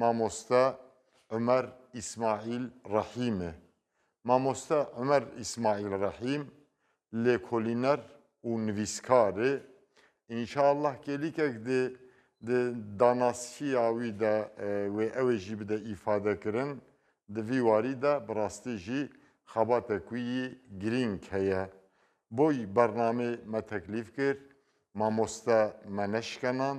مامۆستا عومەر ئیسماعیل ڕەحیمێ. مامۆستا عومەر ئیسماعیل ڕەحیم لێکۆلینەر و نڤیسکارێ، ئینشا اللە کێلیکەک دێ د داناسکی ئاوی دە وێ ئەوێ ژی بدە ئیفادە کرن د ڤی واری دە بڕاستی ژی خەباتە کویی گرینگ کەیە. بۆی بەڕنامێ مە تەکلیف کرد مامۆستا مە نەشکەنان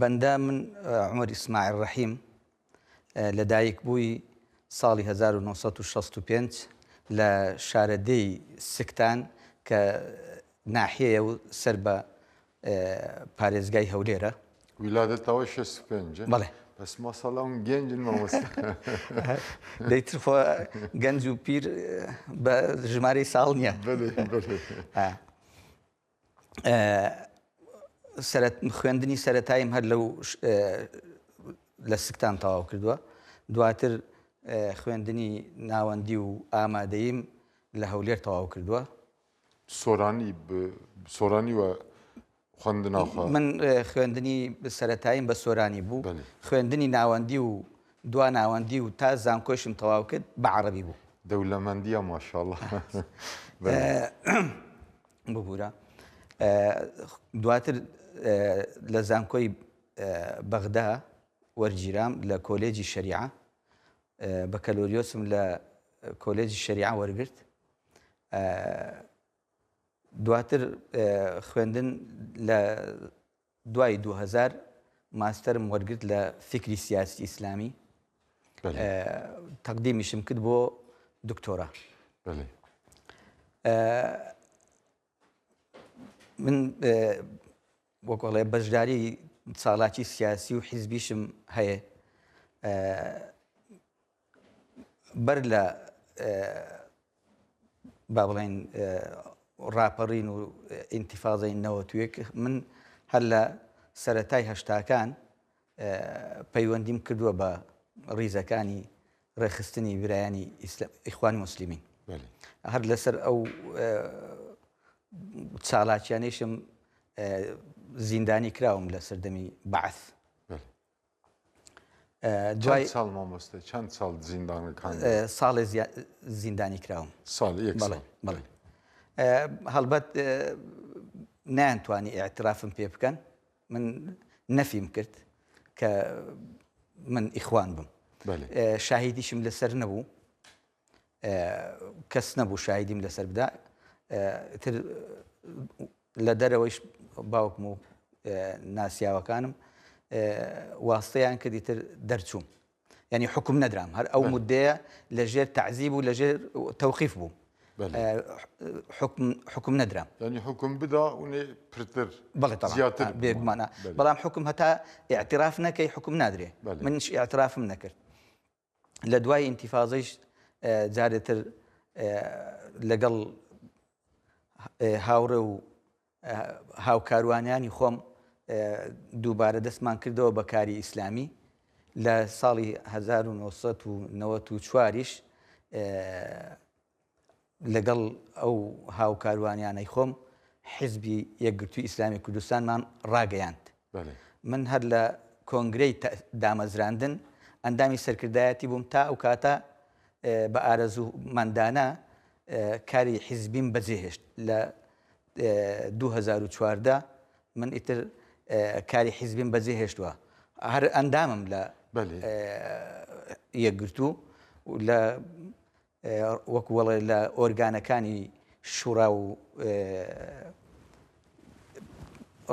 بەندە من عمر ئیسماعیل ڕەحیم لە دایک بووی ساڵی 1965 لە شارەدێی سکتان کە ناحیەیە و سەر بە پارێزگای هەولێرە ویلادەتەوە شەست و پێنجە بەڵێ بەس مەسەڵە ئەم گەنجن مەوەست دەیتر خۆ گەنج و پیر بە ژمارەی ساڵ نییە خوێندنی سەرەتاییم هەر لەو لە سکتان تەواو کردووە دواتر خوێندنی ناوەندی و ئامادەیم لە هەولێر تەواو کردووە سۆرانی سۆرانی وە خوندنا من خوێندنی سەتاییم بە سۆرانی بوو خوێندنی ناوەندی و دوا ناوەندی و تا زانکۆشم تەواو کرد بە عربی بوو دەولەمەندیە ماشاءله ببورە دواتر لە زانکۆی بەغدا وەرگیرام لە کۆلێجی شەریعە بە کەلۆریۆسم لە کۆلێجی شەریعە وەرگرت دواتر خوێندن لە دوای دوو هەزار ماستەرم وەرگرت لە فیکری سیاسی ئیسلامی تەقدیمیشم کرد بۆ دکتۆرا من وەکۆڵێ بەشداری ساڵاتی سیاسی و حیزبیشم هەیە بەر لە با بڵێن ڕاپەڕین و ئینتیفاضەی نەوەت و یەک من هەر لە سەتای هەشتاکان پەیوەندیم کردووە بە ڕیزەکانی ڕێخستنی برایانی ئیخوانی مسللیمین هەر لەسەر ئەو چالاکیانەیشم زیندانی کراوم لە سەردەمی بەعث دوای چەند ساڵ مامۆستا چەند ساڵ زیندانەکان ساڵێ زیندانی کراوم ساڵ یەک ساڵ. بەڵێ بەڵێ ئێ، هەڵبەت ئێ، نەیانتوانی ئیعترافم پێ بکەن من نەفیم کرد کە من ئیخوان بم بەلێ. ئێ، شاهیدیشم لەسەر نەبوو. کەس نەبوو شایدیم لەسەر بدا تر لە دەرەوەیش باوکم و ناسیاوەکانم واستەیان کردی تر دەرچووم ینی حکم نەدرام هەر ئەو مدەیە لە ژێر تعزیب و لە ژێر تەوقیف بوو حکم نەدرام ینی حکم بدا ونێ پرتر زیاتر بێگومانە بەڵام حکم هەتا اعتراف نەکەی حکم نادرێ منش اعترافم نەکرد لە دوای ئینتیفازەیش جارێتر لەگەڵ هاوڕێ و هاوکاروانیانی خۆم دووبارە دەستمان کردەوە بە کاری ئیسلامی لە ساڵی 1994یش لەگەڵ ئەو هاوکاروانیانەی خۆم حیزبی یەکگرتووی ئیسلامی کوردستانمان ڕاگەیاند. من هەر لە کۆنگرەی دامەزراندن ئەندامی سەرکردایەتی بووم تا ئەو کاتە بە ئارەزوو مەندانە کاری حیزبیم بەجێ هێشت لە دوو هەزار و چواردە من ئیتر کاری حیزبیم بەجێ هێشتوە هەر ئەندامم لە یەکگرتوو لە وەکو وەڵێ لە ئۆرگانەکانی شوڕا و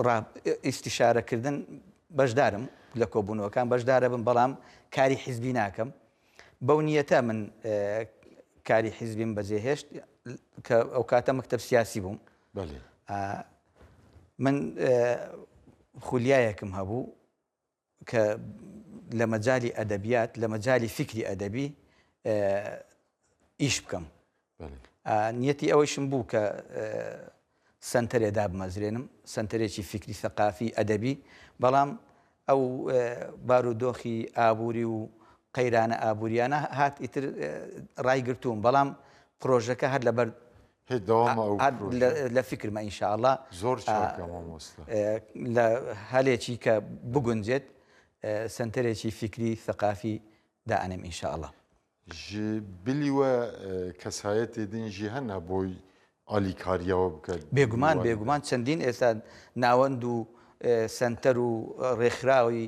ڕا ئیستیشارە کردن بەشدارم لە کۆبوونەوەکان بەشدارە بم بەڵام کاری حیزبی ناکەم بەو نیەتە من کاری حیزبیم بەجێهێشت کە ئەو کاتە مەکتب سیاسی بووم من خولیایەکم هەبوو کە لە مەجالی ئەدەبیات، لە مەجالی فیکری ئەدەبی ئیش بکەم. نیەتی ئەوەیشم بوو کە سنتەرێ دابمەزرێنم سنتەرێکی فکری سەقافی ئەدەبی بەڵام ئەو بارودۆخی ئابووری و قەیرانە ئابوووریانە هات ئیتر ڕایگرتووم بەڵام پرۆژەکە هەر لەبەر هەی دەوامە ئەو هەر پرۆژە. لە فیکرمە ان شاء اللە زۆر چاکە مامۆستا. لە هەلێکی کە بگونجێت سەنتەرێکی فیکری ثەقافی دائەنێم ان شاء اللە. ژی بلی وە کەسایەتێ دین ژی هەنە بۆی ئالیکارییەوە بکەن. بێگومان بێگومان چەندین ئێستا ناوەند و سەنتەر و ڕێکخراوی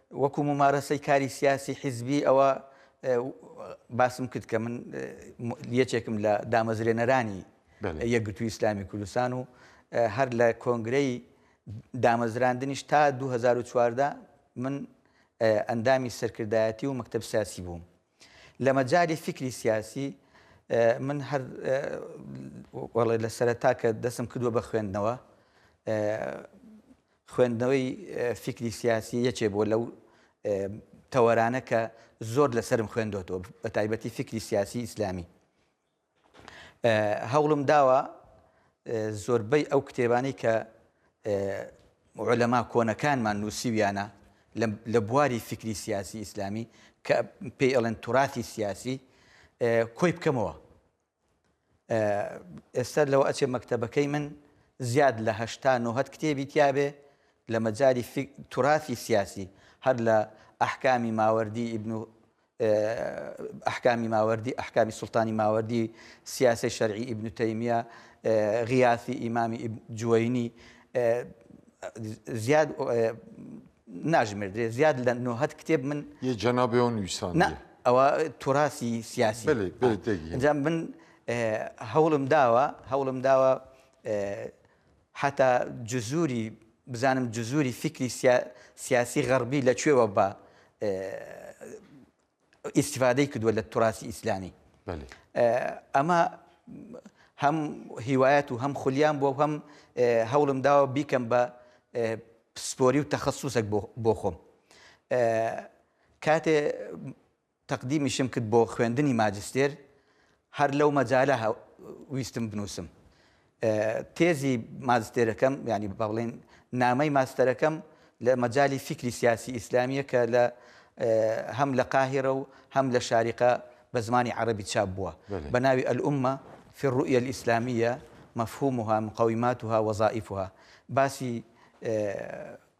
وەکو مومارەسەی کاری سیاسی حیزبی ئەوە باسم کرد کە من یەکێکم لە دامەزرێنەرانی یەکگرتوو ئیسلامی کوردستان و هەر لە کۆنگرەی دامەزراندنیش تا 2014 من ئەندامی سەرکردایەتی و مەکتب سیاسی بووم لە مەجالی فیکری سیاسی من هەر وەڵێ لە سەرەتا کە دەسم کردووە بە خوێندنەوە خوێندنەوەی فیکری سیاسی یەکێ بۆ لەو تەوەرانە کە زۆر لەسرم خوێندۆتەوە بە تایبەتی فکری سیاسی ئیسلامی هەوڵم داوە زۆربەی ئەو کتێبانەی کە عولەما کۆنەکانمان نووسیویانە لە بواری فکری سیاسی ئیسلامی کە پێی ئەڵێن توراتی سیاسی کۆی بکەمەوە ئێستا لەوە ئەچێ مەکتتەبەکەی من زیاد لە هەشتا نۆهت کتێبی تیاابێ لە مەجاری توراتی سیاسی هەر لە ئەحکامی ماوەردی ئیبن و ئەحکامی ماوەردی، احکام سلطان ماوردی، سیاسە شەرعی ابن تەیمیە، غیاثی ئیمامی ابن جوەینی، زیاد ناژمێردرێ زیاد لە نۆهەد کتێب من یە جەنابی ئەو نویسان نا ئەوە توراسی سیاسی بەلی بەلی تێگەیشتم من هەوڵم داوە هەوڵم داوە هەتا جزوری بزانم جزوری فیکری سیا سیاسی غەڕبی لە کوێوە بە ئیستفادەی کردووە لە توراسی ئیسلامی ئەمە هەم هیوایەت و هەم خولیان بۆ هەم هەوڵم داوە بیکەم بە پسپۆری و تەخصصێک بۆ خۆم کاتێ تەقدیمیشم کرد بۆ خوێندنی ماجستێر، هەر لەو مەجالە ویستم بنووسم تێزی ماجستێرەکەم، یانی با بڵێین نامەی ماستەرەکەم لە مەجالی فیکری سیاسی ئیسلامییە کە لە هەم لە قاهیرە و هەم لە شاریقە بە زمانی عەرەبی چاپ بووە بە ناوی الامە فی الرؤیە الاسلامیە مفهومها مقوماتها وظائفها باسی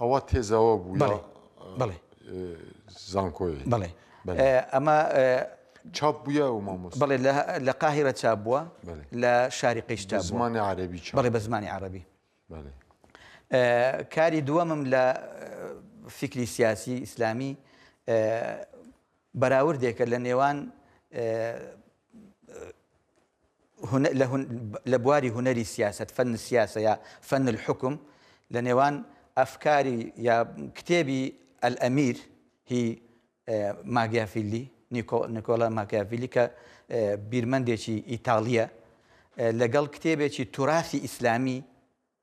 ئەوە تێزە وە بوو یا بەڵێ زانکۆیە بەڵێ ئەمە چاپ بووە و مامۆس بڵێ لە قاهرە چاپ بووە لە شاری قیشتا زمانی عربی بڵێ بە زمانی عربی کاری دووەمم لە فکری سیاسی ئیسلامی بەراوردێکە لە نێوان لە بواری هونەری سیاسەت، فن السیاسە یا فن الحکم، لە نێوان ئەفکاری یا کتێبی الامیر هی ماگیافیلی، نیکۆلا ماکیافیلی کە بیرمەندێکی ئیتاڵییە، لەگەڵ کتێبێکی توراسی ئیسلامی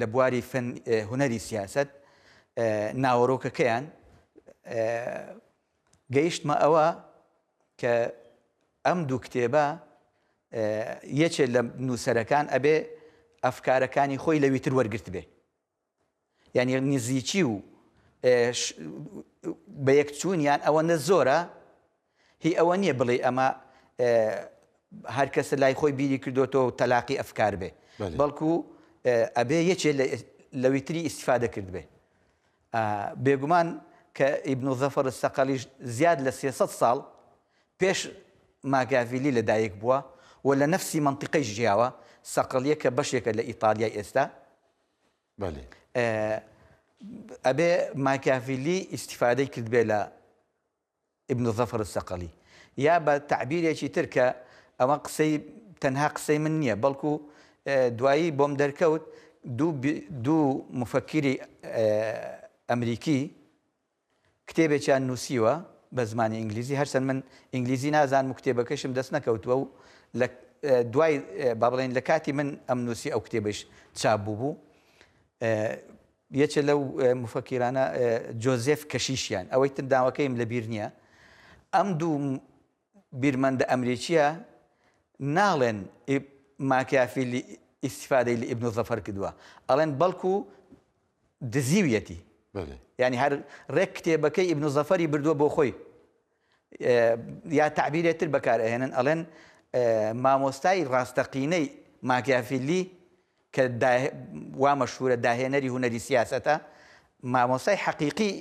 لە بواری فن هونەری سیاسەت ناوەرۆکەکەیان گەیشتمە ئەوە کە ئەم دوو کتێبە یەکێ لە نووسەرەکان ئەبێ ئەفکارەکانی خۆی لەوی تر وەرگرت بێ یعنی نزیکی و بە یەکچوونیان ئەوەندە زۆرە هی ئەوە نیە بڵێی ئەمە هەر کەسە لای خۆی بیری کردۆتەوە و تەلاقی ئەفکار بێ بەڵکو ئەبێ یەکێ لەوی تری ئیسیفادە کرد بێ بێگومان کە ئیبن و زەفەر سەقەلیش زیاد لە سێسەد ساڵ پێش ماگاڤیلی لەدایک بووە و لە نەفسی منطقەی ژیاوە سەقەلیە کە بەشێکە لە ئیتالیای ئێستا ئەبێ ماکاڤیلی ئیسیفادەی کرد بێ لە ابن ظفر الصقلی، یا بە تەعبیرێکی تر کە ئەوە قسەی تەنها قسەی من نییە بەڵکو دوایی بۆم دەرکەوت دوو دوو موفەکیری ئەمریکی کتێبێکیان نووسیوە بە زمانی ئینگلیزی هەرچەند من ئینگلیزی نازانم و کتێبەکەشم دەست نەکەوتووە و لە دوای با بڵێین لە کاتی من ئەم نووسی ئەو کتێبەش چاپ بووبوو یەکێ لەو موفەکیرانە جۆزێف کەشیشیان، ئەوەی تر ناوەکەیم لە بیر نییە، ئەم دوو بیرمەندە ئەمریکییە ناڵێن ماکیافیلی ئیستیفادەی لە ئیبن زەفەر کردووە، ئەڵێن بەڵکو دزیویەتی. یانی هەر ڕێک کتێبەکەی ئیبن زەفەری بردووە بۆ خۆی. یا تەعبیرێ تر بەکار ئەهێنن ئەڵێن مامۆستای ڕاستەقینەی ماکیافیلی کە وا مەشهورە داهێنەری هونەری سیاسەتە مامۆستای حەقیقی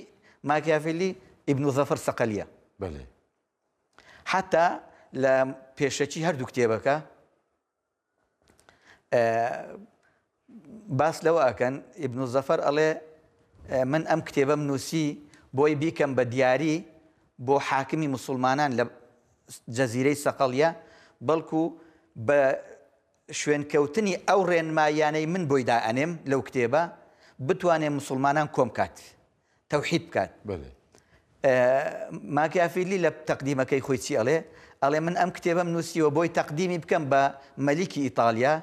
ماکیافیلی ئیبن و زەفر سەقەلیە بەێ حتا لە پێشەکی هەردوو کتێبەکە باس لەوە ئەکەن ئیبن الظفر ئەڵێ من ئەم کتێبەم نووسی بۆی بیکەم بە دیاری بۆ حاکمی مسلمانان لە جەزیرەی سەقەڵیە بەڵکو بە شوێنکەوتنی ئەو ڕێنمایانەی من بۆی دائەنێم لەو کتێبە بتوانێ مسلمانان کۆم کات تەوحید بکات ماکیافیلی لە تەقدیمەکەی خۆی چی ئەڵێ ئەڵێ من ئەم کتێبەم نووسیوە بۆی تەقدیمی بکەم بە مەلیکی ئیتالیا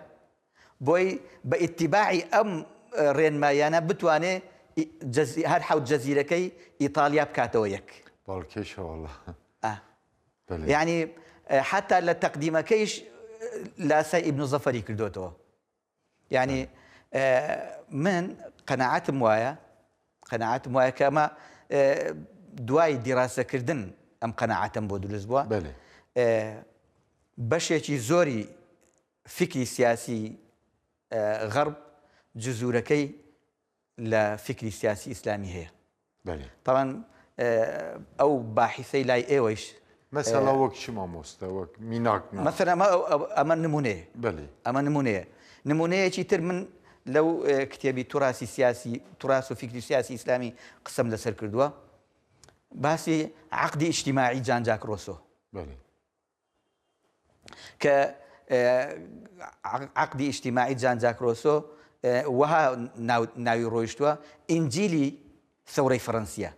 بۆی بە ئیتیباعی ئەم ڕێنمایانە بتوانێ هەر حەوت جەزیرەکەی ئیتالیا بکاتەوە یەک باڵکێشەوەڵە ینی حتا لە تەقدیمەکەیش لاسای ئیبن زەفەری کردوێتەوە یانی من قەناعەتم وایە قەناعەتم وایە کە ئەمە دوای دیراسەکردن ئەم قەناعەتم بۆ دروست بووە بەشێکی زۆری فکری سیاسی غەرب جزورەکەی لە فیکری سیاسی ئیسلامی هەیە بەلی. تەبعەن ئەو باحیسەی لای ئێوەیش مەسەلا وەک چی مامۆستا وەک میناک نا مەسەلا ئەمە ئەمە نمونەیە بەلی. ئەمە نمونەیە نمونەیەکی تر من لەو کتێبی توراسی سیاسی تراس و فیکری سیاسی ئیسلامی قسەم لەسەر کردووە باسی عقدی ئیجتیماعی جان جاک ڕۆسۆ بەلی. کە عەقدی ئیجتیماعی جان جاک ڕۆسۆ وەها ناوی ڕۆیشتووە ئینجیلی سەورەی فەرەنسیە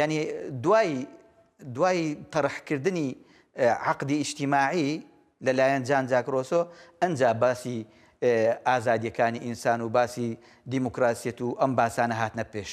ینی دوای دوای تەرحکردنی عقدی ئیشتیماعی لەلایەن جان جاکرۆسۆ ئەجا باسی ئازادیەکانی ئینسان و باسی دیموکراسیەت و ئەم باسانە هاتنە پێش.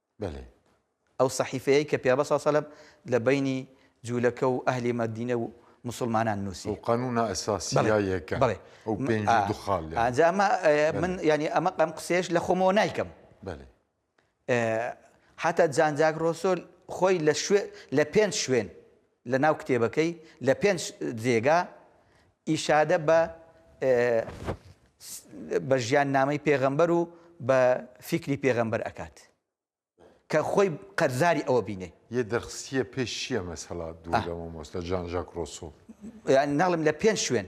بەلێ. ئەو سەحیفەیەی کە پێغەمبەر صلی اللە علیە و سلم لە بەینی جولەکە و ئەهلی مەدینە و موسڵمانان نوسی. ئەو قانونە ئەساسیە یەکە. بەڵێ. ئەو پێنج و دو خاڵ یە. ئەجا ئەمە من یانی ئەمە ئەم قسەیەش لە خۆمەوە نایکەم. بەلێ. حتا جان جاک رۆسۆ خۆی لە شوێ لە پێنج شوێن. لە ناو کتێبەکەی لە پێنج جێگا ئیشادە بە بە ژیان نامەی پێغەمبەر و بە فیکری پێغەمبەر ئەکات کە خۆی قەرزاری ئەوە بینێ یە دەرخستیە پێش چیە مەسەلا دوگەمە مۆستا جان ژاک ڕۆسۆ ناڵم لە پێنج شوێن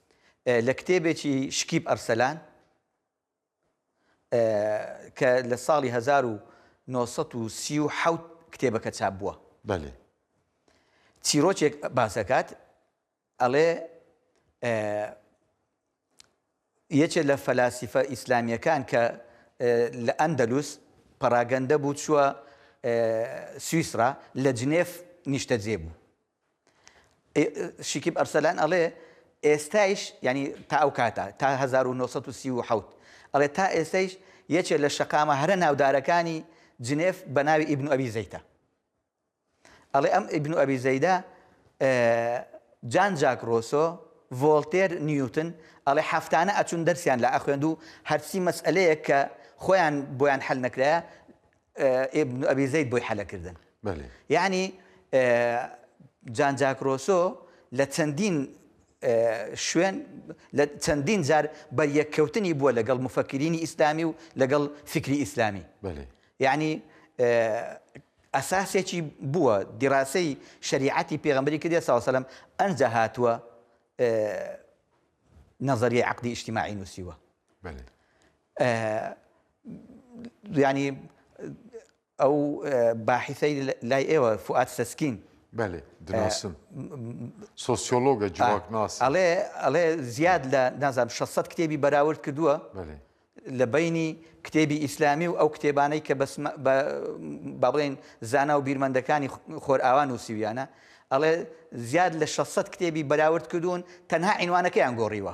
لە کتێبێکی شکیب ئەرسەلان کە لە ساڵی هەزار و نۆ سەد و سی و حەوت کتێبەکە چاپ بووە. بەلێ. چیرۆکێک باس دەکات، ئەڵێ یەکێ لە فەلاسیفە ئیسلامییەکان کە لە ئەندەلوس پەڕاگەندە بوو چووە سویسڕا، لە جنێف نیشتەجێ بوو. شیکیب ئەرسەلان ئەڵێ ئێستایش یانی تا ئەو کاتە تا هەزار و نۆ سەد و سی و حەوت ئەڵێ تا ئێستەیش یەکێ لە شەقامە هەرە ناودارەکانی جنێف بە ناوی ئیبن ئەبی زەیتە ئەڵێ ئەم ئیبن ئەبی زەیدە جان جاک ڕۆسۆ ڤۆلتێر نیوتن ئەڵێ هەفتانە ئەچون دەرسیان لە ئەخوێند و هەرچی مەسئلەیەک کە خۆیان بۆیان حل نەکرایە ابن ابی زید بۆی حەلە کردن یەعنی جان جاک ڕۆسۆ لە چەندین شوێن لە چەندین جار بەریەککەوتنی بووە لەگەڵ مفەکرینی ئیسلامی و لەگەڵ فکری ئیسلامی یعنی ئەساسێکی بووە دیڕاسەی شریعەتی پێغمبری کردە ساوسلم ئەنجە هاتووە نظریه عقدی اجتماعی نووسیوە یانی ئەو باحیسەی لای ئێوە فوئاد سەسکین. بەلێ دناسم سۆسیۆلۆگە جڤاکناسە. ئەڵێ ئەڵێ زیاد لە نازانم شەست سەد کتێبی بەراورد کردووە. بەلێ. لە بەینی کتێبی ئیسلامی و ئەو کتێبانەی کە بەس بە با بڵێین زانا و بیرمەندەکانی خۆرئاوا نووسیویانە ئەڵێ زیاد لە شەست سەد کتێبی بەراورد کردوون تەنها عینوانەکەیان گۆڕیوە.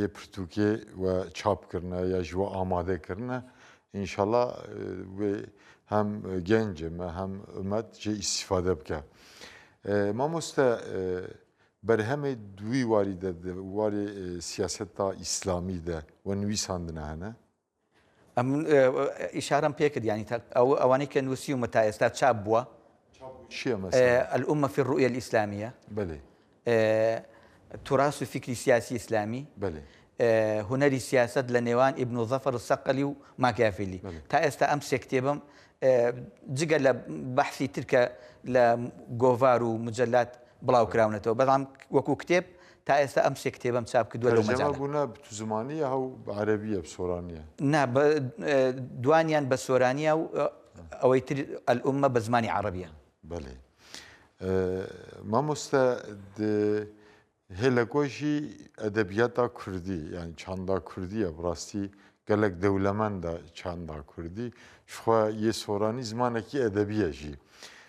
یە پرتوکێ وە چاپ کردنە یا ژوە ئامادە کردنە ئینشەڵا وێ هەم گەنجە مە هەم ئومەت جێ ئیسیفادە بکە مامۆستا بەرهەمێ دووی واری دەردە وارێ سیاست تا ئیسلامی دە وە نویساندنە هەنە ئەم ئیشارەم پێ کرد یانی تە- ئەو ئەوانەی کە نووسیومە تا ئێستا چاپ بووە چییە مەسەلە؟ ئە، الامە فی الرؤیە الاسلامیە بەلێ ئە، تراث فکری سیاسی اسلامی بەلێ ئە، هونەری سیاسەت لە نێوان ئیبن ظەفەر السەقەلی و ماکیافیلی بەلێ. تا ئێستا ئەم سێ کتێبەم ئە، جگە لە بەحسی تر کە لە گۆڤار و مجەلات بڵاو کراونەتەوە بەڵام وەکوو کتێب تا ئێستا ئەم سێ کتێبەم چاپ کردووە لەو مەجالە. تەرجەمە بوونە بە زمانییە و بە عەرەبییە، بە سۆرانییە؟ نا، دوانیان بە سۆرانییە و ئەوەی تر، الامە، بە زمانی عەڕەبییە. بەلی. مامۆستا هێلە گۆژی ئەدەبیاتا کوردی یان چاندا کوردییە بڕاستی گەلەک دەولەمەندە چاندا کوردی، شخوا یێ سۆرانی زمانەکی ئەدەبییە ژی.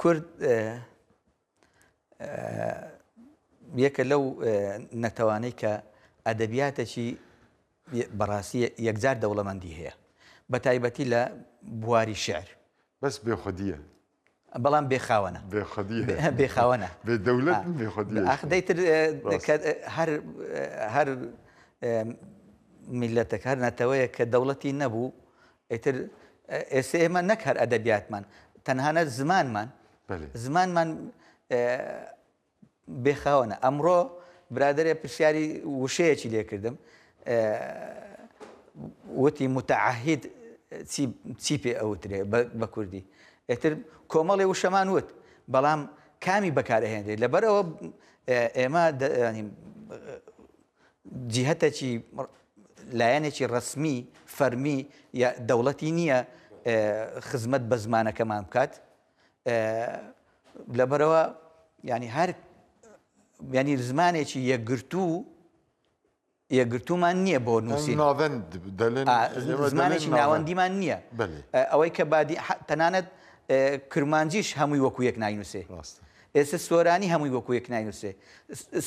کورد یەکە لەو نەتەوانەی کە ئەدەبیاتەکی بەڕاستی یەکجار دەوڵەمەندی هەیە بە تایبەتی لە بواری شعر بەس بێخودیە بەڵام بێخاوەنە بێخاوەنە دەولەت دەیتر هەر میلەتەکە هەر نەتەوەیە کە دەوڵەتی نەبوو ئیتر ئێستا ئێمە نەک هەر ئەدەبیاتمان تەنهانە زمانمان زمانمان بێخاوەنە ئەمڕۆ برادێ پرسیاری وشەیەکی لێکردم وتی متعهید چی پێ ئەوترێ بە کوردی ئێتر کۆمەڵی وشەمان وت بەڵام کامی بەکارهێنێت لەبەرەوە ئێمە جیهەتەکی لایەنێکی ڕەسمی فەرمی یا دەوڵەتی نییە خزمەت بە زمانەکەمان بکات لەبەرەوە ینی هەر ینی زمانێکی یەکگرتوو یەکگرتومان نییە بۆ نووسین زمانێکی ناوەندیمان نییە ئەوەی کە بادی تەنانەت کرمانجیش هەمووی وەکو یەک ناینووسێ ئێستا سۆرانی هەمووی وەکو یەک ناینووسێ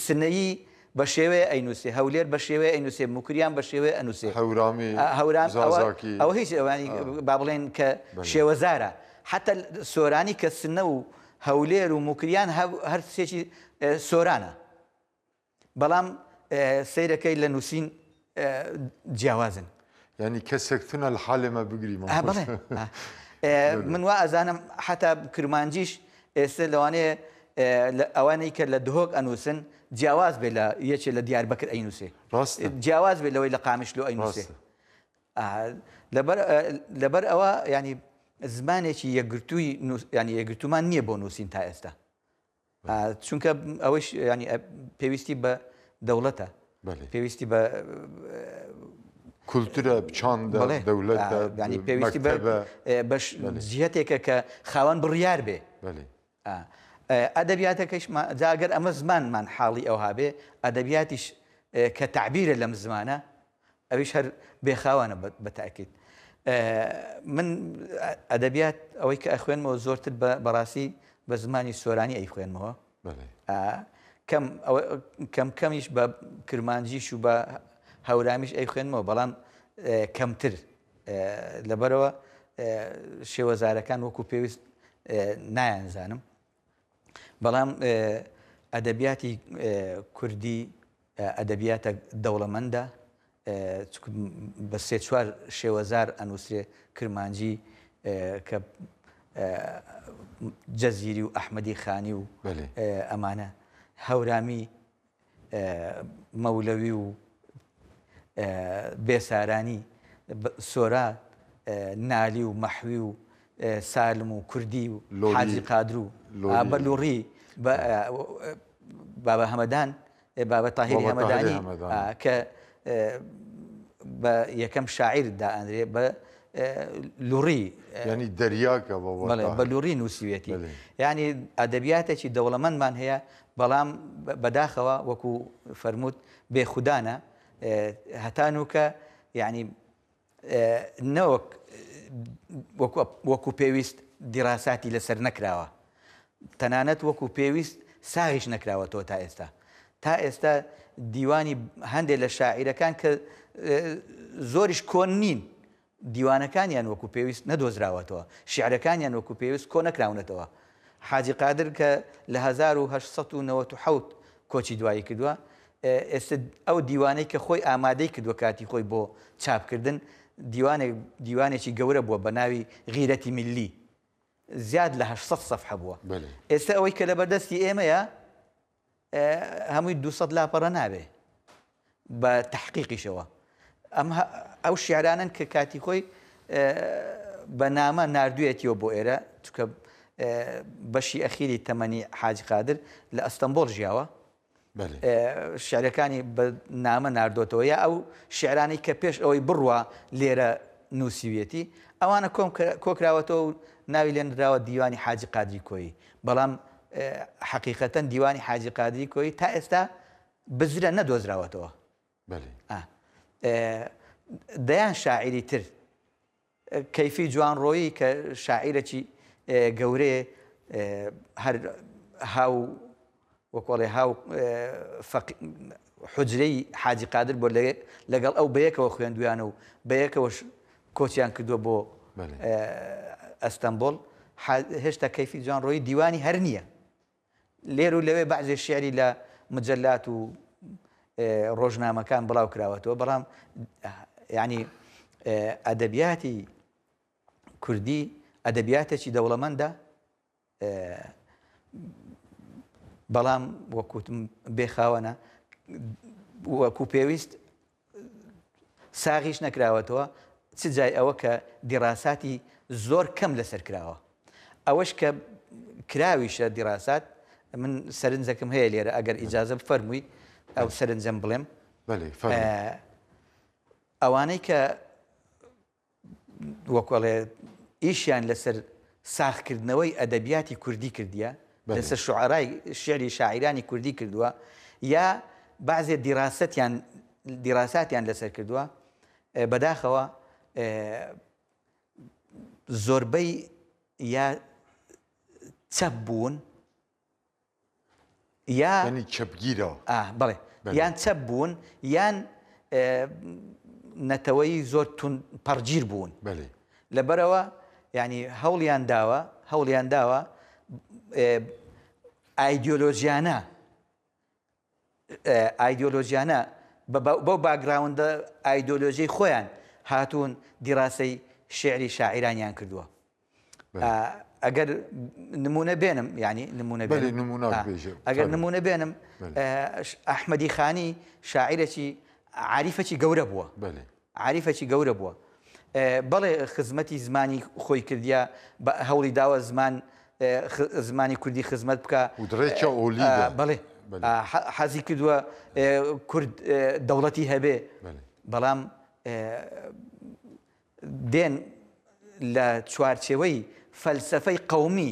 سنەیی بە شێوەیە ئەینووسێ هەولێر بە شێوەیە ئەینووسێ موکریان بە شێوەیە ئەنووسێ هەورامی هەورام ئەوە زازاکی ئەوە هیچ ئەوانی ئا. با بڵێن کە بەلێ. شێوەزارە حەتەل سۆرانی کە سنە و هەولێر و موکریان هە هەر سێکی ئێ سۆرانە بەڵام ئێ سەیرەکەی لە نووسین جیاوازن. یانی کەسێک تونە لە حالێ مە بگری مە. من وا ئەزانم حتا کرمانجیش ئێستا لەوانەیە ئەوانەی کە لە دهۆک ئەنووسن جیاواز بێ لە یەکێ لە دیار بەکر ئەینووسێ جیاواز بێ لەوەی لە قامیش لۆ ئەینووسێ لەبەر ئەوە ینی زمانێکی یەکگرتووی ینی یەکگرتومان نییە بۆ نووسین تا ئێستا چونکە ئەوەیش یانی پێویستی بە دەوڵەتە پێویستی بە کولتورە بچان دەولەتنی پێویستی بەش جیهتێکە کە خاوەن بڕیار بێ ئەدەبیاتەکەش جاگەر ئەمە زمانمان حاڵی ئەوها بێ ئەدەبیاتیش کە تعبیرە لەم زمانە ئەویش هەر بێ خاوانە بە تاکید من ئەدەبیات ئەوەی کە ئەخوێنمەوە زۆرتر بەڕاستی بە زمانی سۆرانی ئەی خوێنمەوە کەم کەم کەمیش بە کرمانجیش و بە هەورامیش ئەی خوێنمەوە بەڵام کەمتر لەبەرەوە شێوەزارەکان وەکو پێویست نایانزانم بەڵام ئەدەبیاتی کوردی ئەدەبیاتە دەوڵەمەندە بە سێ چوار شێوەزار ئەنووسێ کرمانجی کە جەزیری و ئەحمەدی خانی و ئەمانە هەورامی مەولەوی و بێسارانی، سۆران، نالی و مەحوی و سالم و کوردی و حاجی قادر و بە لوڕی بابە هەمەدان، بابە تاهیری هەمەدانی کە بە یەکەم شاعیر دائەنرێ بە لوڕی یانی دەریاکە بە لوڕی نووسیوێتی یانی ئەدەبیاتێکی دەوڵەمەندمان هەیە بەڵام بەداخەوە وەکو فەرمووت بێ خودانە هەتانوکە یعنی نەوەک وەکو پێویست دیراساتی لەسەر نەکراوە تەنانەت وەکو پێویست ساغیش نەکراوە تۆ تا ئێستا تا ئێستا دیوانی هەندێک لە شاعیرەکان کە زۆریش کۆن نین دیوانەکانیان وەکو پێویست نەدۆزراوەتەوە، شیعرەکانیان وەکو پێویست کۆ نەکراونەتەوە. حاجی قادر کە لە هەزار و هەشت سەد و نەوەد و حەوت کۆچی دوایی کردووە، ئێستا ئەو دیوانەی کە خۆی ئامادەی کردووە کاتی خۆی بۆ چاپ کردن، دیوانێک دیوانێکی گەورە بووە بە ناوی غیرەتی ملی زیاد لە هەشت سەد سەفحە بووە. ئێستا ئەوەی کە لەبەردەستی ئێمەیە، هەمووی دوو سەد لاپەڕە نابێ بە تەحقیقیشەوە ئەم ئەو شعرانن کە کاتی خۆی بە نامە نردویەتیەوە بۆ ئێرە چکە بەشی ئەخیری تەمەنی حاج قادر لە ئەستەمبۆل ژیاوە شعرەکانی بە نامە نردۆتەوە یا ئەو شعرانی کە پێش ئەوەی بڕوە لێرە نووسویەتی ئەوانە کۆم کۆکراوەتەوە ناوی لێنراوە دیوانی حاجی قادری کۆی بەڵام حەقیقەتەن دیوانی حاجی قادری کۆیی تا ئێستا بزرە نەدۆزراوەتەوە دەیان شاعری تر کەیفی جوان ڕۆیی کە شاعیرەکی گەورەیە هەر هاو وە کۆڵێ ها و فەقی حوجرەی حاجی قادر بۆ لە لەگەڵ ئەو بەیەکەوە خوێندویانە و بەیەکەوەش کۆچیان کردووە بۆ ئەستەمبۆڵ هێشتا کەیفی جوان ڕۆی دیوانی هەر نییە لێر و لەوێ بەعزێ شعری لە مجلات و ڕۆژنامەکان بڵاو کراوەتەوە بەڵام ینی ئەدەبیاتی کوردی ئەدەبیاتێکی دەوڵەمەندە بەڵام وەک وتم بێ خاوەنە وەکو پێویست ساغیش نەکراوەتەوە چ جای ئەوە کە دیڕاساتی زۆر کەم لەسەر کراوە ئەوەش کە کراویشە دیڕاسات من سەرنجەکەم هەیە لێرە ئەگەر ئیجازە بفەرمووی ئەو سەرنجەم بڵێم ئەوانەی کە وەک ئەڵێ ئیشیان لەسەر ساغکردنەوەی ئەدەبیاتی کوردی کردیە، لەسەر شوعەرای شعری شاعیرانی کوردی کردووە، یا بەعزێ دیراسەتیان دیراساتیان لەسەر کردووە، بەداخەوە زۆربەی یا چەپ بوون یا یانی چەپگیرەوە. ئا بەڵێ بەلێ. یان چەپ بوون یان ئ نەتەوەی زۆر توند پەڕگیر بوون. بەلێ. لەبەرئەوە یانی هەوڵیان داوە هەوڵیان داوە ئ ئایدیۆلۆژیانە ئایدیۆلۆژیانە بە بەو باکگراوندە ئایدۆلۆژیەی خۆیان هاتوون دیراسەی شیعری شاعیرانیان کردووە ئەگەر نمونە بێنم یعنی نمونە ئەگەر نمونە بێنم ئەحمەدی خانی شاعیرەکی عریفەکی گەورە بووە عاریفەکی گەورە بووە بەڵێ خزمەتی زمانی خۆی کردیە بە هەوڵی داوە زمان زمانی کوردی خزمەت بکە بەڵێ حەزی کردووە کورد دەوڵەتی هەبێ بەڵام دێن لە چوارچێوەی فەلسفەی قومی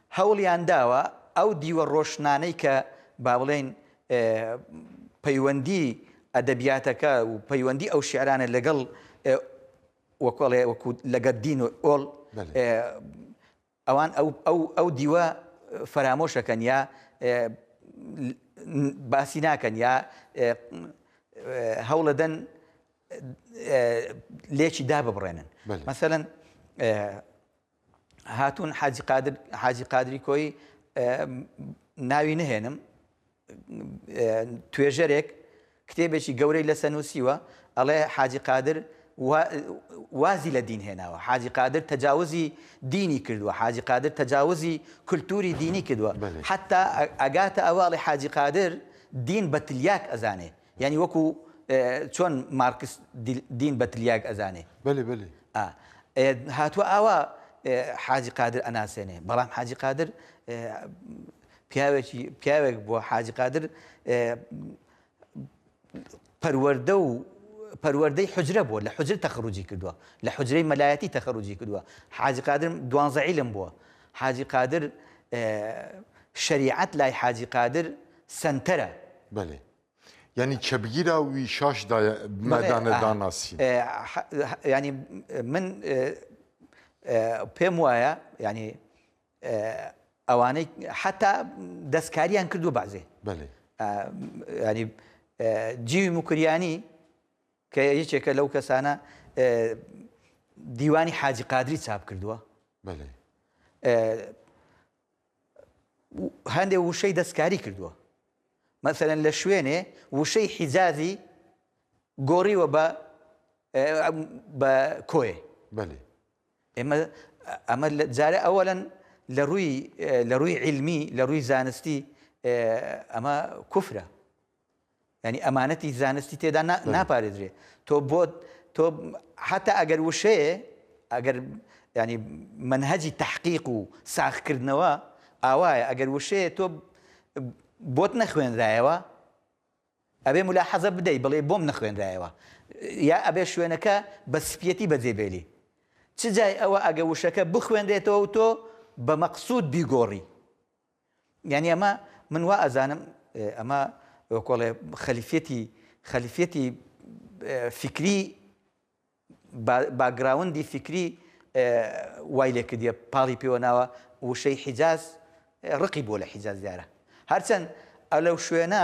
هەوڵیان داوە ئەو دیوە ڕۆشنانەی کە با بڵێین پەیوەندی ئەدەبیاتەکە و پەیوەندی ئەو شیعرانە لەگەڵ وەکو ئەڵێ وەکو لەگەڵ دین و ئۆڵ ئەوان ئەو دیوە فەرامۆشەکەن یا باسی ناکەن یا هەوڵەدەن لێکی داببڕێنن مەسەەن هاتوون حاجی قادر حاجی قادری کۆی ناوی نهێنم توێژەرێک کتێبێکی گەورەی لەسە نووسیوە ئەڵێ حاجی قادر وازی لە دین هێناوە حاجی قادر تەجاوزی دینی کردووە حاجی قادر تەجاوزی کولتوری دینی کردووە حتا ئەگاتە ئەواڵی حاجی قادر دین بە تلیاک ئەزانێ یانی وەکو چۆن مارکس دین بە تلیاک ئەزانێ. بەلی بەلی. ئا هاتوە ئاوا حاجی قادر ئەناسێنێ بەڵام حاجی قادر پیاوێکی پیاوێک بووە حاجی قادر پەروەەردە و پەروەەردەی حجرە بووە لە حجر تەخروجی کردووە لە حجرەی مەلایەتی تەخەروجی کردووە حاجی قادر دوانزەعیلم بووە حاجی قادر شریعەت لای حاجی قادر سنتەرە بەێ یعنی کە بگیرا و وی شاش دایە مەدانە داناسی ینی من پێم وایە ینی ئەوانەی حتا دەستکاریان کردو بازێ ینی جیوی مکریانی کە یەکێکە لەو کەسانە دیوانی حاجی قادری چاپ کردووە هەندێ وشەی دەستکاری کردووە مەسەرەن لە شوێنێ وشەی حیجازی گۆڕیوە بە بە کۆێ بەێ ئێمە ئەمە جارە ئەوەن لە ڕووی لە ڕووی علمی لە ڕووی زانستی ئەمە کوفرە یانی ئەمانەتی زانستی تێدا نا ناپارێزرێ تۆ بۆ تۆ حتا ئەگەر وشەیە ئەگەر ینی منهجی تحقیق و ساخکردنەوە ئاوایە ئەگەر وشەیە تۆ بۆت نەخوێنرایەوە ئەبێ ملا حەزە بدەی بڵێ بۆم نەخوێنرایەوە یا ئەبێ شوێنەکە بە سپیەتی بەجێبێلی چ جای ئەوە ئەگە وشەکە بخوێنرێتەوە و تۆ بە مەقصود بیگۆڕی یانی ئەمە من وا ئەزانم ئەمە وەکۆڵێ خەلیفەتی خەلیفەتی فکری باگراوندی فکری وای لێ کردە پاڵی پێوە ناوە وشەی حیجاز ڕقی بۆ لە حیجاز دیارە هەرچەند ئە لەو شوێنە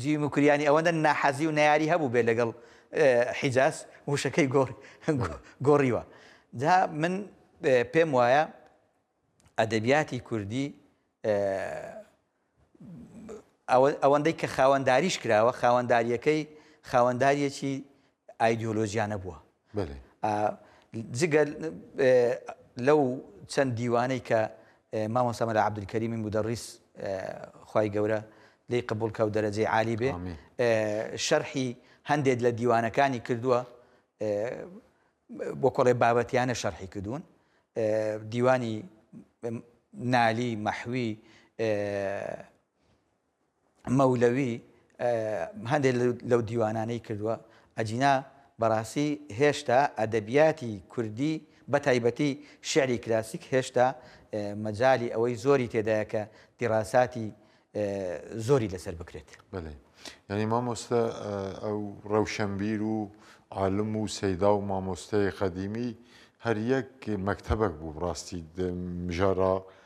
جیمی موکریانی ئەوەندە ناحەزی و نەیاری هەبووبێت لەگەڵ حیجاز وشەکەی گۆڕیوە جا من پێم وایە ئەدەبیاتی کوردی ئەوەندەی کە خاوەنداریش کراوە خاوەنداریەکەی خاوەنداریەکی ئایدیۆلۆژیا نەبووە. بەلێ. ئا جگە لەو چەند دیوانەی کە مامۆستا مەلا عەبدولکەریمی مودەڕیس خوای گەورە لێی قبووڵ کا و دەرەجەی عالی بێ، شەرحی هەندێک لە دیوانەکانی کردووە وەک ئەڵێ بابەتیانە شەرحی کردوون. دیوانی نالی، مەحوی، مەولەوی هەندێک لەو دیوانانەی کردووە ئەجینا بەڕاستی هێشتا ئەدەبیاتی کوردی بە تایبەتی شعری کلاسیک هێشتا مەجای ئەوەی زۆری تێدایە کە دیڕاساتی زۆری لەسەر بکرێت بەێ یعنی مامۆستا ئەو ڕەوشەمبیر و عالم و سەیدا و مامۆستای قەدیمی هەر یەک مەکتتەبەک بوو ڕاستی مژارا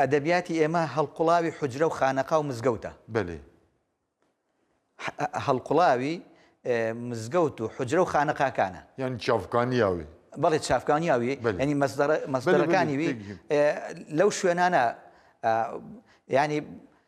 ئەدەبیاتی ئێمە هەڵقوڵاوی حوجرە و خانەقا و مزگەوتە. بەلێ. هەڵقوڵاوی مزگەوت و حجرە و خانەقاکانە یان چاافکانیاوی بەڵێ چاافکانیاوی ینی مەسدەرەکانی لەو شوێنانە ینی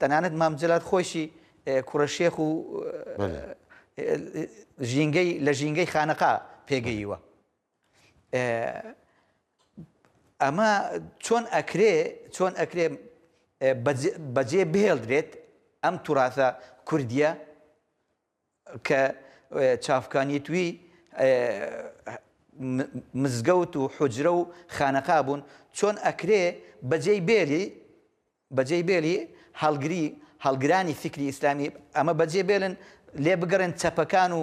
تەنانەت مام جەلال خۆیشی کوڕە شێخ و ژینگەی لە ژینگەی خانەقا پێگەیوە ئەمە چۆن ئەکرێ چۆن ئەکرێ بەجێ بهێڵدرێت ئەم توراثە کوردیە کە چاڤکانیتوی مزگەوت و حوجرە و خانەقا بوون، چۆن ئەکرێ بەجێی بێلی، بەجێی بێلی هەڵگری، هەڵگرانی فیکری ئیسلامی ئەمە بەجێ بێلن، لێ بگەڕێن چەپەکان و،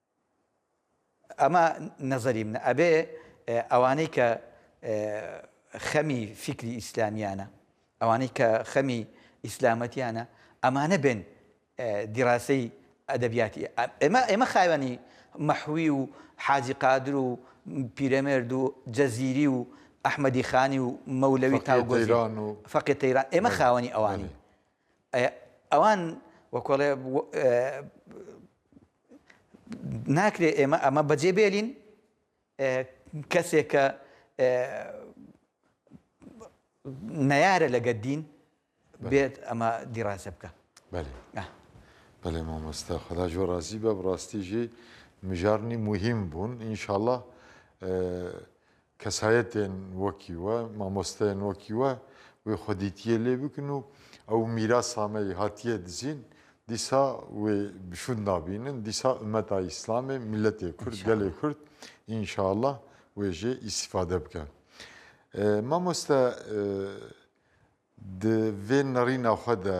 ئەمە نەزەری منە ئەبێ ئەوانەی کە خەمی فیکری ئیسلامیانە ئەوانەی کە خەمی ئیسلامەتیانە ئەمانە بێن دیڕاستەی ئەدەبیاتی ئێمە ئێمە خاوێنی مەحوی و حاجی قادر و پیرەمێرد و جەزیری و ئەحمەدی خانی و مەولەوی تاوگۆزیران و فەقێ تەیران ئێمە خاوەنی ئەوانی ئەوان وەکو ئەڵێ ناکرێ ئێمە ئەمە بەجێ بێلین کەسێک کە نەیارە لەگە دین بێت ئەمە دیڕاسە بکە بەێ مامۆستا خدا جۆ ڕازی بە بڕاستیژی مژارنی مهم بوون ئینشاالله کەسایەتێن وەکی وە، مامۆستایەن وەکی وە، وێ خودیتییە لێ بکن و ئەو میراسامەی هاتییە دزین، دیسا وێ بشوود نابینن، دیسا ئومەتا ئیسلامێ، میللەتێ کورد، گەلێ کورد ان شاء اللە وێ ژێ ئیستیفادە بکە. مامۆستا د ڤێ نەڕینا خۆ دە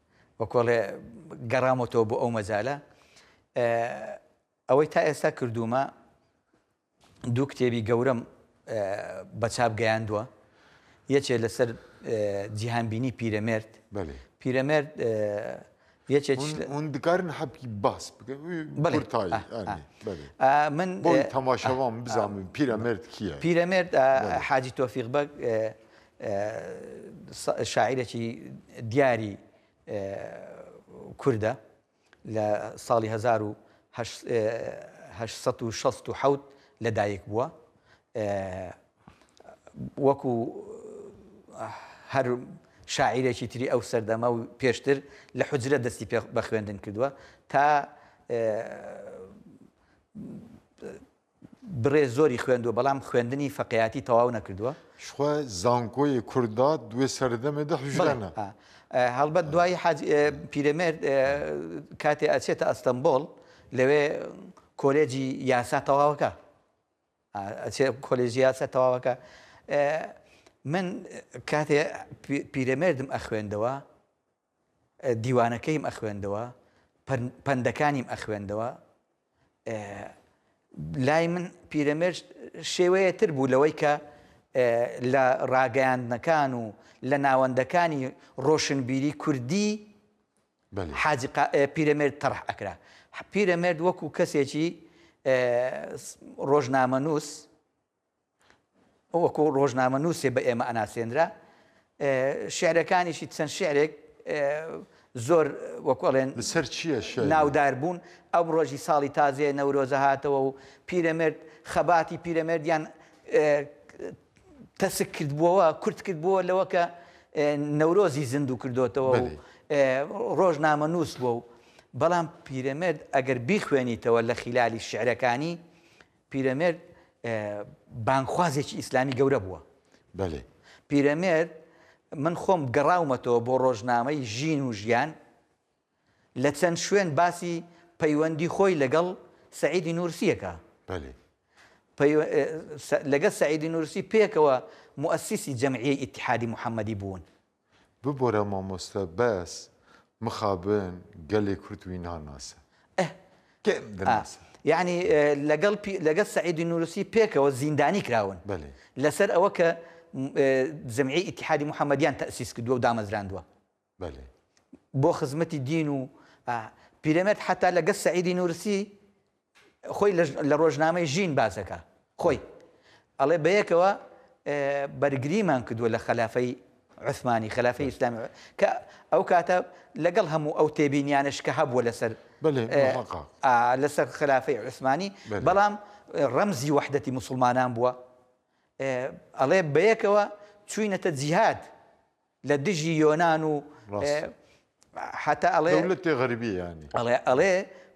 وەکۆڵێ گەڕامەوەەوە بۆ ئەو مەجالە ئەوەی تا ئێستا کردوومە دوو کتێبی گەورەم بە چاپ گەیاندووە یەکێ لەسەر جیهانبینی پیرەمێرد پیرەمێرد اون دکارن حەبکی باس من تەماشەوام بزانم پیرەمرد کیە پیرەمرد حاجی تۆفیق بەگ شاعیرەکی دیاری کوردە لە ساڵی هەزار و هەشت سەد و شەست و حەوت لەدایک بووە وەکو هەر شاعیرێکی تری ئەو سەردەمە و پێشتر لە حجرە دەستی پێ بە خوێندن کردووە تا بڕێ زۆری خوێندوە بەڵام خوێندنی فەقێیاتی تەواو نەکردووە. شخوا زانکۆیێ کورد داد دوێ سەردەمێ دە بڵێ هوژرەنە. ئا ئا هەڵبەت دوای حاج ئێ پیرەمێرد ئێ کاتێ ئەچێتە ئەستەمبۆڵ لەوێ کۆلێجی یاسا تەواوەکا ئا ئەچێ کۆلێژی یاسا تەواوەکا ئێ من کاتێ پی پیرەمێردم ئەخوێندەوە دیوانەکەیم ئەخوێندەوە پەندەکانیم ئەخوێندەوە لای من پیرەمێرد شێوەیەتر بوو لەوەی کە لە ڕاگەیاندنەکان و لە ناوەندەکانی ڕۆشنبیری کوردی حاجی پیرەمێرد تەڕح ئەکرا پیرەمێرد وەکو کەسێکی ڕۆژنامە نووس وەکوو ڕۆژنامەنووسێ بە ئێمە ئەناسێنرا. شیعرەکانیشی چەند شیعرێک زۆر وەکوو ئەڵێن لەسەر چییە شیعری؟ ناودار بوون. ئەمڕۆشی ساڵی تازەیە نەورۆزە هاتەوە و پیرەمێرد خەباتی پیرەمێردیان تەسک کردبووەوە، کورت کردبووە لەوە کە نەورۆزی زیندوو کردۆتەوە و ڕۆژنامەنووس بووە و بەڵام پیرەمێرد ئەگەر بیخوێنیتەوە لە خیلالی شیعرەکانی، پیرەمێرد بانگخوازێکی ئیسلامی گەورە بووە. بەلێ. پیرەمێرد من خۆم گەڕاومەتەوە بۆ ڕۆژنامەی ژین و ژیان، لە چەند شوێن باسی پەیوەندی خۆی لەگەڵ سەعیدی نورسی ئەکا. بەلێ. لەگەڵ سەعیدی نورسی پێکەوە موئەسیسی جەمعیەی ئیتحادی محەمەدی بوون. ببورە مامۆستا بەس مخابن گەلێ کورد وی ناناسە ئه کێم دەناسە. یەعنی لەگەڵ پی لەگەڵ سەعیدی نورسی پێکەوە زیندانی کراون بەلێ. لەسەر ئەوە کە جمعی ئیتحادی محمدیان تەئسیس کردوە و دامەزراندوە. بەلێ. بۆ خزمەتی دین و ئه. پیرەمێرد حەتا لەگەڵ سەعیدی نورسی خۆی لە ڕۆژنامەی ژین باس دەکا خۆی ئەڵێ بەیەکەوە بەرگریمان کردووە لە خەلافەی عثمانی خەلافی ئیسلام کە ئەو کاتە لەگەڵ هەموو ئەو تێبینیانش کە هەبووە لەسەر لەسەر خلافی عثمانی بەڵام ڕەمزی وحدەتی مسلمانان بووە ئەڵێ بەیەکەوە چوینەتە جیهاد لە دژی یۆنان و هەتا ئەڵێ دەولەتی غەربی یانی ئەڵێ ئەڵێ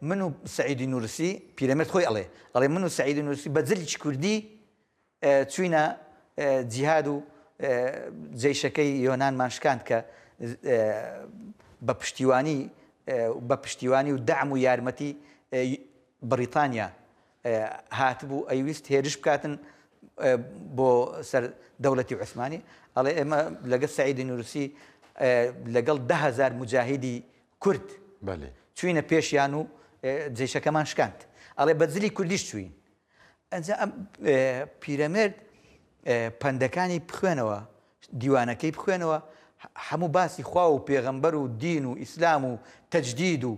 من و سعیدی نورسی پیرەمێرد خۆی ئەڵێ ئەڵێ من و سعیدی نورسی بە جلیی کوردی چوینە جیهاد و جیشەکەی یۆنانمان شکاند کە بە پشتیوانی بە پشتیوانی و دام و یارمەتی بەریتانیا هاتبوو ئەیویست هێرش بکاتن بۆ سەر دەولەتی عوسمانی ئەڵێ ئێمە لەگەل سەعیدی نورسی لەگەڵ دە هەزار مجاهیدی کورد چوینە پێشیان و جیشەکەمان شکاند ئەڵێ بە جلی کوردیش چوین ئەجا ئەم پیرەمێرد پەندەکانی بخوێنەوە دیوانەکەی بخوێنەوە هەموو باسی خوا و پێغەمبەر و دین و ئیسلام و تەجدید و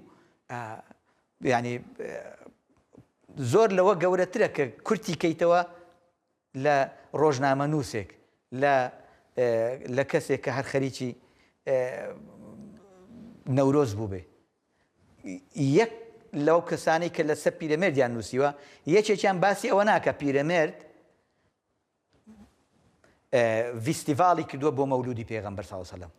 یانی زۆر لەوە گەورەترە کە کورتی کەیتەوە لە ڕۆژنامە نووسێک لە لە کەسێک کە هەر خەریکی نەورۆز بوو بێ یەک لەو کەسانی کە لەسەر پیرەمێردیان نووسیوە یەکێکیان باسی ئەوە ناکە پیرەمێرد ڤیستیڤاڵی کردووە بۆ مەولودی پێغەمبەر ساوسەلم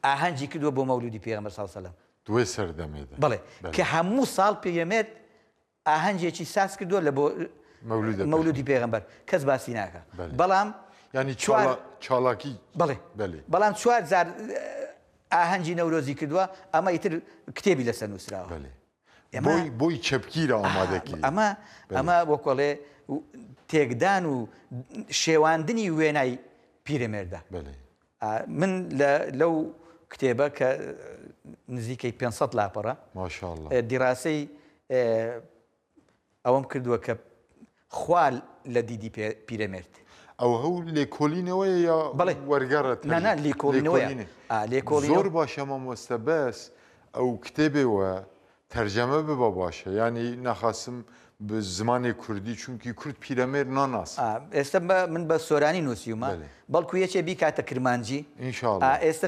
ئاهەنگی کردوە بۆ مەولودی پێغەمبەر صلی اللە علیە وسلم. دوای سەردەمێ دە. بەڵێ کە هەموو ساڵ پیرەمێرد ئاهەنگێکی ساز کردوە لە بۆ مەولودی پێغەمبەر کەس باسی ناکا بەڵام یانی چوار چاڵاکی بەڵێ بەلێ بەڵام چوار جار ئاهەنگی نەورۆزی کردوە ئەمە ئیتر کتێبی لەسەر نووسراوە بەلێ ئەمەی بۆی چەپکیرە ئامادەکی ئەمە ئەمە وەکۆڵێ تێکدان و شێواندنی وێنای پیرەمێردە بەلێ من لە لەو کتێبە کە نزیکەی پێنج سەد لاپەڕە ماشاءاللە دیراسەی ئەوەم کردووە کە خوا لە دیدی پیرەمێرد ئەو هەو لێکۆلینەوەیە یا بەڵێ وەرگەڕت نا نا لێکۆلینەوەیە. لێکۆڵینەوە. زۆر باشە مامۆستا بەس ئەو کتێبێوە تەرجەمە ببە باشە یانی ناخاسم بە زمانی کوردی چونکی کورد پیرەمێرد ناناسێ. ئا ئێستە بە من بە سۆرانی نووسیومە بەلێ. بەڵکو یەکێ بیکاتە کرمانجی ان شاء ئا اللە. ئێستە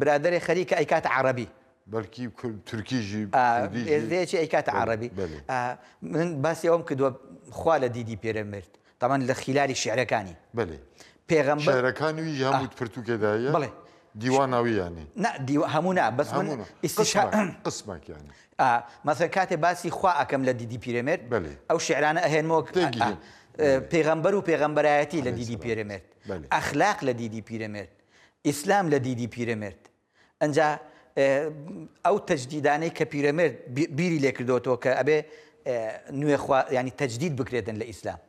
برادەرێ خەریکە ئەیکاتە عەڕەبی. بەلکی کورد تورکیژی ئا کوردیژی ئێستە یەکێ ئەیکاتە بەلێ عەڕەبی. بەلێ. ئا من باسی ئەوەم کردوە خوا لە دیدی پیرەمێرد تەبعەن لە خیلالی شیعرەکانی. بەلێ. پێغەمبەر. شیعرەکانی وی هەموو پرتووکێ دا هەیە؟ بەڵێ. دیواناوی یانی. نا دیو هەموو نا بەس من ئیستیشا. هەموو نا قسمەک یانی. ئا مەسەلەن کاتێ باسی خوا ئەکەم لە دیدی پیرەمێرد. بەلێ. ئەو شیعرانە ئەهێنمەوە ک. تێگیهێنم. ئا پێغەمبەر و پێغەمبەرایەتی لە دیدی پیرەمێرد. بەلێ. ئەخلاق لە دیدی پیرەمێرد. ئیسلام لە دیدی پیرەمێرد. ئنجا ئەو تەجدیدانەی کە پیرەمێرد بیری لێکردۆتەوە کە ئەبێ نوێ خوا ینی تەجدید بکرێتن لە ئیسلام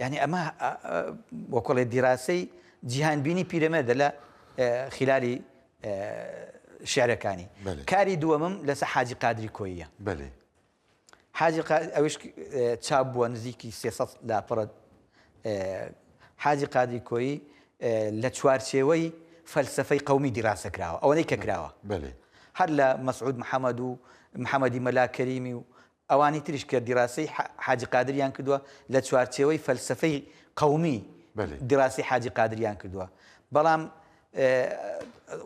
یعنی ئەمە وەکۆڵێ دیراسەی جیهانبینی پیرەمێردە لە خلالی شعرەکانی کاری دووەمم لەسە حاجی قادری کۆیە بەێ حاجی قادر ئەویش چاپ بووە نزیکی سێ سەد لاپەڕە حاجی قادری کۆیی لە چوارچێوەی فەلسفەی قومی دیراسە کراوە ئەوەی کە کراوە هەر لە مەسعود محەممەد و محەممەدی مەلاکەریمی و ئەوانی تریش کە دیراسی حاجی قادریان کردووە لە چوارچێوەی فەلسفەی قومی دیراسی حاجی قادریان کردووە بەڵام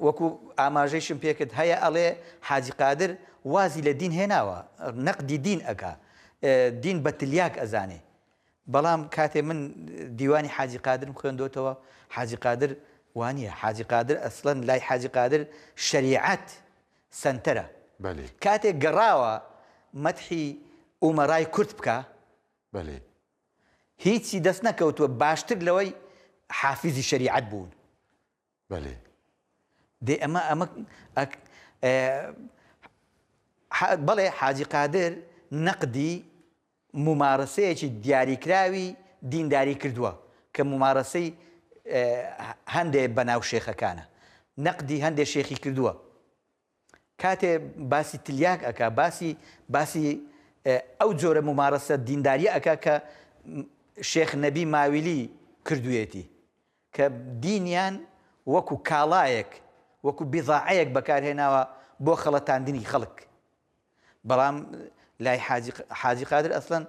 وەکو ئاماژەیشم پێکرد هەیە ئەڵێ حاجی قادر وازی لە دین هێناوە نەقدی دین ئەکا دین بە تلیاک ئەزانێ بەڵام کاتێ من دیوانی حاجی قادرم خوێندۆتەوە حاجی قادر وانە حاجی قادر ئەسڵەن لای حاجی قادر شەریعەت سنتەرە کاتێک گەڕاوە مەتحی ئومەڕای کورد بکە هیچی دەست نەکەوتوە باشتر لەوەی حافیزی شەریعەت بوون. بەلی. دەی ئەمە ئەمە ئەک بەڵێ حاجی قادر نەقدی ممارەسەیەکی دیاریکراوی دینداری کردووە کە ممارەسەی هەندێ بەناو شێخەکانە نەقدی هەندێ شێخی کردووە کاتێ باسی تلیاک ئەکا باسی باسی ئەو جۆرە مومارەسە دینداریە ئەکا کە شێخ نەبی ماویلی کردویەتی کە دینیان وەکو کاڵایەک وەکو بیضاعەیەک بەکارهێناوە بۆ خەڵەتاندنی خەڵک. بەڵام لای حاجی حاجی قادر ئەسڵەن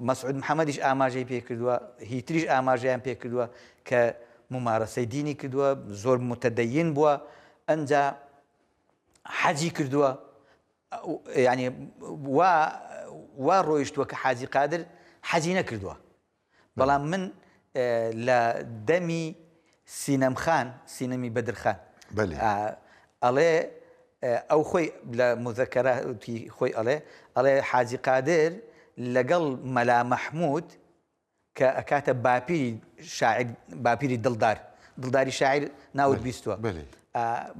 مەسعود محەممەدیش ئاماژەی پێکردووە هیتریش ئاماژەیان پێکردووە کە ممارەسەی دینی کردووە زۆر متەدەین بووە ئەجا حەجی کردووە ینی وا وا ڕۆیشتووە کە حاجی قادر حەجی نەکردووە بەڵام من لە دەمی سینەم خان سینەمی بەدر خان ئەڵێ ئەو خۆی لە مزەکەراتی خۆی ئەڵێ ئەڵێ حاجی قادر لەگەڵ مەلا مەحمود کە ئەکاتە باپیری شاعر باپیری دڵدار دڵداری شاعر ناوت بیستوە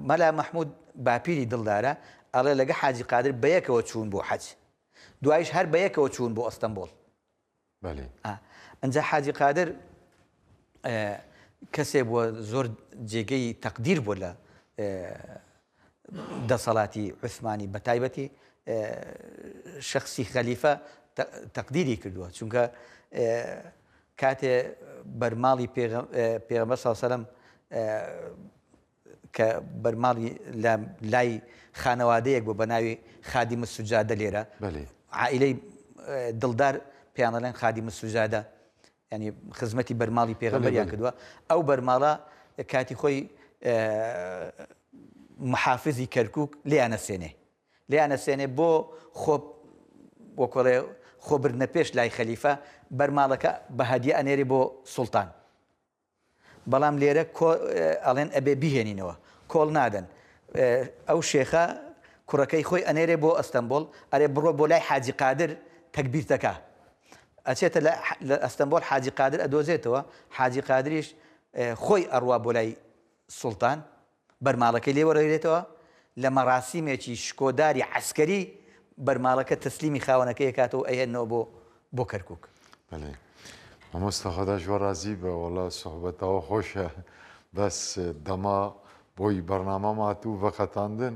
مەلا مەحمود باپیری دڵدارە ئەڵێ لەگە حاجی قادر بەیەکەوە چوون بۆ حەج دوایش هەر بەیەکەوە چوون بۆ ئەستەمبۆڵ بەلی. ئا ئنجا حاجی قادر ئە کەسێ بووە زۆر جێگەی تەقدیر بووە لە ئە دەسەڵاتی عوسمانی بە تایبەتی ئە شەخسی خەلیفە تە تەقدیری کردووە چونکە ئە کاتێ بەرماڵی پێغە پێغەمبەر ساو سەلەم ئە کە بەرماڵی لە لای خانەوادەیەک بوو بە ناوی خادیم السجادە لێرە بەلی. عائیلەی دڵدار پێیان دەڵێن خادیم السجادە یانی خزمەتی بەرماڵی پێغەمبەریان کردووە ئەو بەرماڵە کاتی خۆی محافزی کەرکک لێیانە سێنێ لێیانە سێنێ بۆ خۆ وەکۆڵێ خۆبرنە پێش لای خەلیفە بەرماڵەکە بە هەدیە ئەنێری بۆ سوڵتان بەڵام لێرە کۆ ئەڵێن ئەبێ بیهێنینەوە کۆڵ نادەن ئەو شێخە کوڕەکەی خۆی ئەنێرێ بۆ ئەستەمبۆڵ ئەرێ بڕۆ بۆ لای حاجی قادر تەگبیرتەکە ئەچێتە لە ئەستەمبۆل حاجی قادر ئەدۆزێتەوە حاجی قادریش خۆی ئەڕوا بۆ لای سوڵتان بەرماڵەکەی لێ وەرەگرێتەوە، لە مەراسیمێکی شکۆداری عەسکەری بەرماڵەکە تەسلیمی خاوەنەکەی ئەکاتەوە و ئەیهێننەوە بۆ بۆ کەرکوک. بەلێ مامۆستا خدا شوو رازی بئ وەڵا سوحبەتاوە خۆشە بەس دەما بۆی بەرنامە ماتوو ڤەقەتاندن.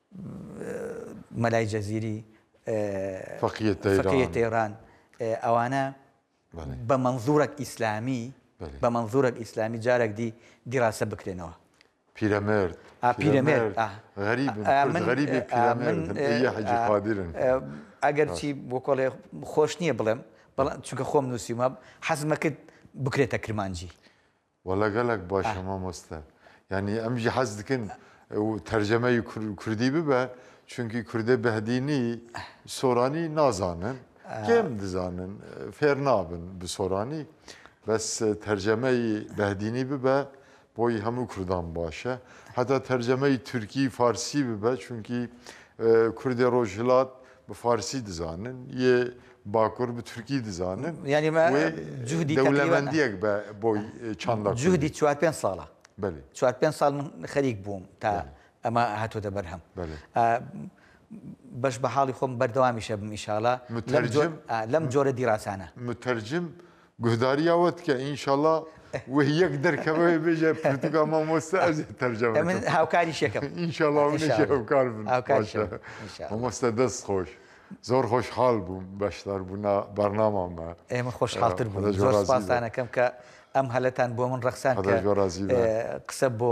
مەلای جەزیری، فەقیە تەیران، ئەوانە بە مەنزوورەک ئیسلامی، بە مەنزوورەک ئیسلامی جارەک دی دیراسە بکرێنەوە. پیرەمێرد، پیرەمێرد، غەریبن، کورد غەریبی پیرەمێردن، ئەیە حەجی قادرن. ئەگەرچی بۆ کۆڵێ خۆش نییە بڵێم، بەڵام چونکە خۆم نووسیومە، حەزمەکرد بکرێتە کرمانجی. وەڵا گەڵەک باشە مامۆستا یانی ئەمژی حەز دکن تەرجەمەی کوردی ببە چونکی کوردە بەهدینی سۆرانی نازانن کێم دزانن فێر نابن بسۆرانی بەس تەرجەمەی بەهدینی ببە بۆی هەموو کوردان باشە هەتا تەرجەمەی تورکی فارسی ببە چونکی کوردی ڕۆژهلات بە فارسی دزانن یێ باکور بە تورکی دزانن یانی ما جهدی دەولەمەندیەک بە بۆی چند جهدی چوار پێنج ساڵە چوار پێنج ساڵ من خەریک بووم تا ئەمە هاتۆتە بەرهەم بەش بە حاڵی خۆم بەردەوامیشە بمیشاڵە لەم جۆرە دیڕاسانە مترجم گوهداری ئەوەت کە ئینشەڵا وە یەک دەرکەوەێ بێژە پرتوگا مامۆستا ئەز تەرجەم من هاوکاری شەکەم ئینشەڵا هاوکار بن مامۆستا دەست خۆش. زۆر خۆشحاڵ بووم بەشدار بوون بەرنامامە ئێمە خۆشحاڵتر بوو زۆر سپاسانەکەم کە ئەم هەلتان بۆ من ڕەخسان قسە بۆ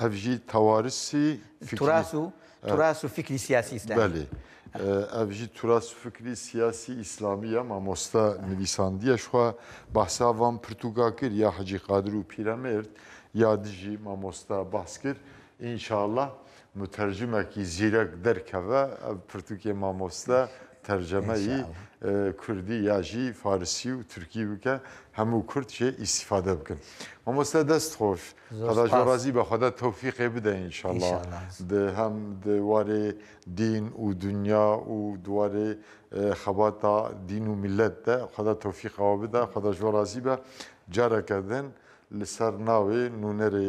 ئەڤژی تەوارسی تراس و تراس و فکری سیاسی ئیسلامی ئەڤژی تراس و فکری سیاسی ئیسلامیە مامۆستا نویساندیەشخوا باساوان پرتوگا کرد یا حەجی قادر و پیرەمێرد یا دژی مامۆستا باس کرد ئینشاءله مترجمە کی زیرەک دەرکەڤە ئە پرتوکێ مامۆستا تەرجەمە ی کوردی یا ژی فارسی و تورکی بکە هەموو کورد شێ ئیستیفادە بکن مامۆستا دەست خۆش خدا ژۆڕازی بە خودا تەوفیقێ بدە ان شاء اللە د هەم دوارێ دین و دنیا و دوارێ خەباتا دین و میلەت دە خودا تەوفیقەوە بدە خودا ژۆڕازی بە جارەکە دن لە سەر ناوێ نونەرێ